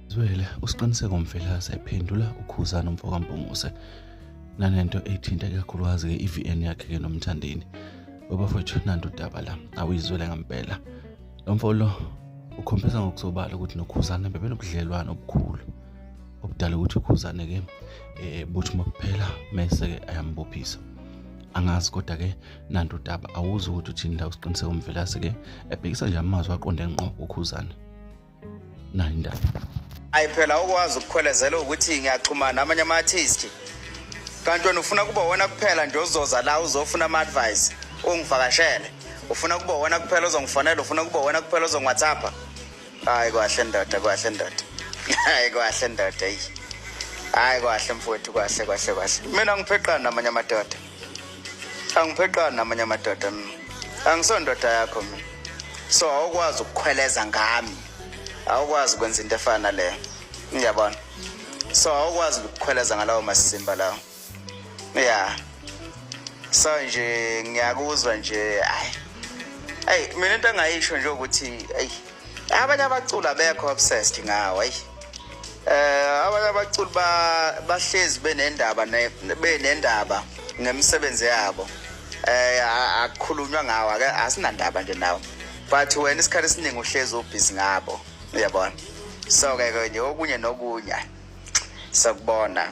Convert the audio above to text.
Zwele usiqiniseko mfelase ephendula ukhuzana umfokampunguse nanento ethinta kakhulukazi ke iVN yakhe ke nomthandeni babafowethu nanto udaba la awuyizwele ngempela lo mfo lo ukhombisa ngokusobala ukuthi nokhuzana bebenobudlelwane obukhulu obudala ukuthi ukhuzane ke eh buthi makuphela mese ke ayambophisa angazi kodwa ke nanto udaba awuzi ukuthi uthini la usiqiniseka umvelase ke ebhekisa nje amazwi aqonde ngqo ukhuzana nayo indaba ayi phela okwazi ukukhwelezela ukuthi ngiyaxhumana amanye ama-artist kanti wena ufuna kuba wona kuphela nje ozoza la uzofuna ama-advice ungivakashele ufuna kuba wona kuphela ozongifonela ufuna kuba wona kuphela ozongwhatsappa hayi kwahle ndoda kwahle ndoda hayi kwahle ndoda eyi hayi kwahle mfowethu kwahle kwahle kwahle mina ngipheqana namanye amadoda angipheqani namanye amadoda mina angisondoda yakho mina so awukwazi ukukhweleza ngami awukwazi ukwenza into efana naleyo ngiyabona so awukwazi ukukhweleza ngalawo masimba lawo ya yeah. so nje ngiyakuzwa nje ayi ayi mina into angayisho nje ukuthi ayi abanye abaculi abekho obsessed ngawo ayi eh abanye abaculi bahlezi benendaba benendaba ngemisebenzi yabo eh akukhulunywa ngawo ake asinandaba nje nawo but wena isikhathi esiningi uhlezi ubhizi ngabo uyabona so ke ke nje okunye nokunye sakubona